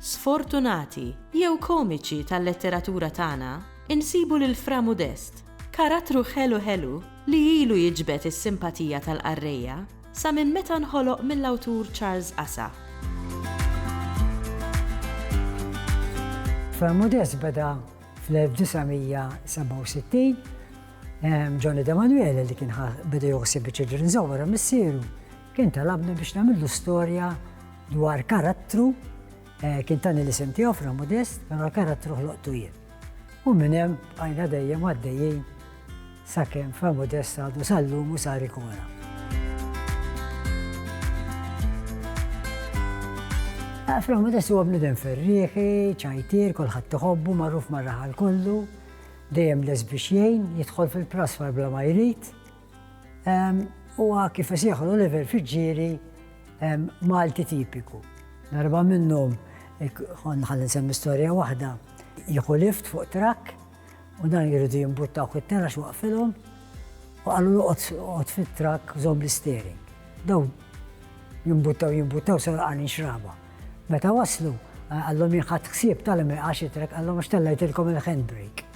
sfortunati jew komiċi tal-letteratura tagħna, insibu lil Fra Mudest, karattru ħelu ħelu li ilu jiġbed is-simpatija tal-qarrejja sa minn meta nħoloq mill-awtur Charles Ghasa. Fra Mudest beda fl-1967 Johnny D'Emanuele li kien beda joħsib iċ-Children's Home wara missieru Kien talabni biex nagħmillu storja dwar karattru, kien tani l-isem tiegħu Fra Modest, però l-karattru ħloqtu jien. U minn hemm bqajna dejjem għaddejjin sakemm Fra Modest għadu sal-lum u sar ikona. Fra Modest huwa bniedem ferrieħi, ċajtier, kulħadd iħobbu, magħruf mar-raħal kollu, dejjem lest biex jgħin, jidħol fil-prasfar bla ma jrid, Huwa kif isejħu l-Oliver Fiġġieri Malti tipiku. Darba minnhom kont ħalli semmi storja waħda, jieħu lift fuq trak u dan jridu jimbuttaw it-tera x'waqfilhom u qalu noqgħod fit-trak żomm l-istering. Daw jimbuttaw jimbuttaw sar għalin xraba. Meta waslu, għallhom jinħat ħsieb tal-imri għax it-trak għallhom għax tellajtilkom il-handbrake.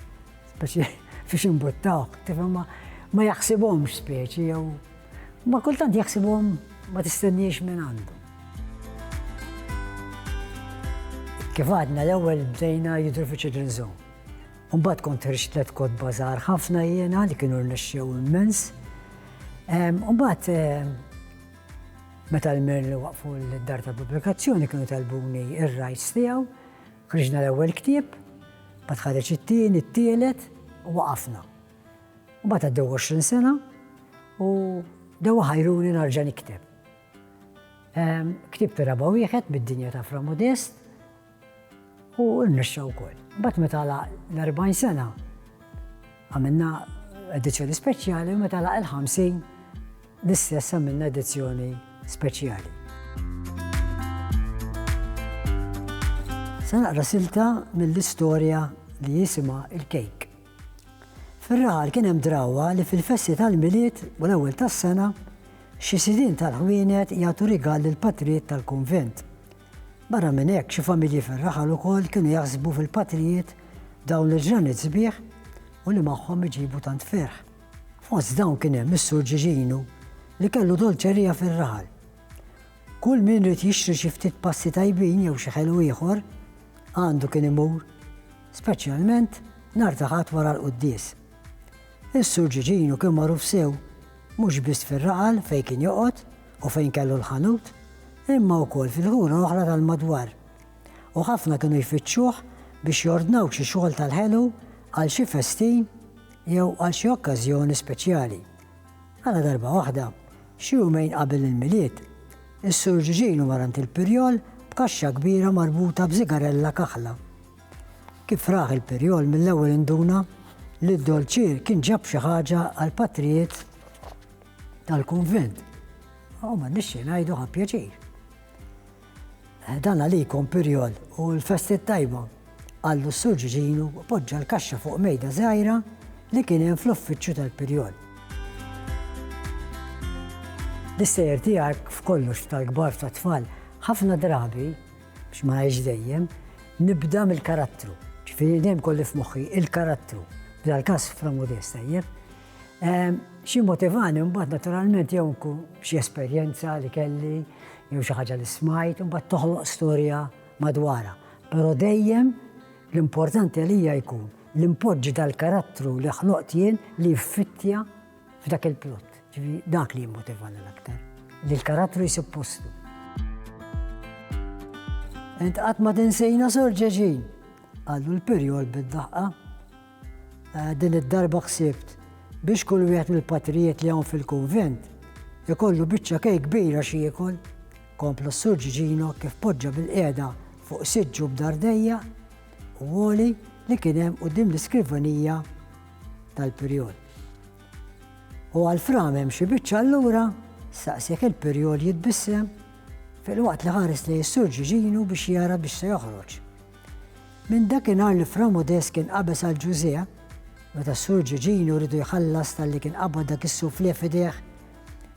Speċi fiex imbuttawk, tifhem ma jaħsibhomx speċi jew ma kultant jaħsibhom ma tistenniex minn għandu. Kif għadna l-ewwel bdejna jidru fi Children's Zone. Umbat kont ħriġt tliet kodba żgħar ħafna jiena li kienu rnexxew immens. Umbat meta l-mir li waqfu l-dar ta' pubblikazzjoni kienu talbuni ir-rajts tiegħu Ħriġna l-ewwel ktieb, mbagħad ħareġ it-tieni, t-tielet u waqafna. Mbagħad għaddew 20 sena u dewa ħajruni narġa' nikteb. Ehm, ktieb raba wieħed bid-dinja ta' Fra Modest u rnexxa wkoll. Mbagħad meta l-40 sena Għamilna edizzjoni speċjali u meta laq il-50 l-istess għamilna edizzjoni speċjali. Se naqra silta mill-istorja li jisima il-kejk. Fir-raħal kien hemm drawa li fil-festi tal-miliet u l-ewwel tas-sena xi sidin tal-ħwienet jagħtu rigal lill patrijiet tal-kunvent. Barra minn hekk, xi familji fir-raħal ukoll kienu jaħsbu fil-patrijiet dawn il-ġranet sbieħ u li magħhom iġibu tant ferħ. Fost dawn kien hemm is-Sur Ġiġinu li kellu dolċerija fir-raħal. Kull min ried jixtri xi ftit pasti tajbin jew xi ħelu ieħor, għandu kien imur, speċjalment nhar ta' Ħadd wara l-quddies. Is-Sur Ġiġinu kien magħruf sew mhux biss fir-raħal fejn kien joqgħod, u fejn kellu l-ħanut, imma wkoll fil-ħura oħra tal-madwar, u ħafna kienu jfittxuh biex jordnaw xi xogħol tal-ħelu għal xi festin jew għal xi okkażjoni speċjali. Għala darba waħda, xi jumejn qabel il-Milied, is-Sur Ġiġinu marant il-Pirjol b'kaxxa kbira marbuta b'żigarella kaħla. Kif raħ il-Pirjol mill-ewwel induna li d-dolċier kien ġab xi ħaġa għal patrijiet tal-kunvent. U ma nixxi ngħidu ħa pjaċir. Eh, dan għalikom pirjol u l-festi tajba għallu s-sur ġiġinu poġġa l-kaxxa fuq mejda zaħira li kien hemm fl-uffiċċju tal-pirjol. L-istejjer tiegħek f'kollox tal-kbar ta' tfal ħafna drabi biex ma għajx dejjem nibda mill-karattru. Ġifieri dejjem kolli f'moħħi il-karattru. Bla l-każ fra modesta jeb. Xi motivani mbagħad naturalment jew nkun xi esperjenza li kelli jew xi ħaġa li smajt u mbagħad toħloq storja madwarha. Però dejjem l-importanti għalija jkun li npoġġi dal-karattru li ħloqt jien li jiffittja f'dak il-plott. Ġifieri dak li jimmotivani l-aktar. Li l-karattru jsib postu. Int qatt ma tinsejna Sor Ġeġin, qallu l-pirjol bid-daħqa. Din id-darba ħsibt biex kull wieħed mill-patrijiet li hawn fil-kunvent ikollu biċċa kejk kbira x'jiekol, kompla s-Sur Ġiġino kif poġġa bilqiegħda fuq siġġu b'dardejja u għoli li kien hemm quddiem l-iskrivanija tal-Pirjol. U għal fram hemm xi biċċa allura saqsek il-Pirjol jitbissem fil-waqt li ħares li s-Sur Ġiġino biex jara biex se joħroġ. Minn dakinhar li Fra Modest kien qabeż għal Ġużè, meta s-Sur Ġiġinu ridu jħallas talli kien qabad dak is-soufflé f'idejh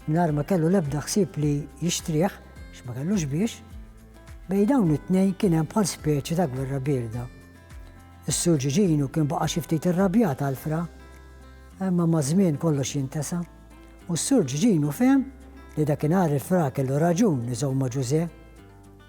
mingħajr ma kellu l-ebda ħsieb li jixtrih għax ma kellux biex, bejn dawn it-tnejn kien hemm bħal speċi ta' gwerra bierda. Is-Sur Ġiġinu kien baqa' xi ftit irrabjat għal Fra, imma maż-żmien kollox jintesa', u s-Sur Ġiġinu fehem li dakinhar il-Fra kellu raġun iżomm ma' Ġużè.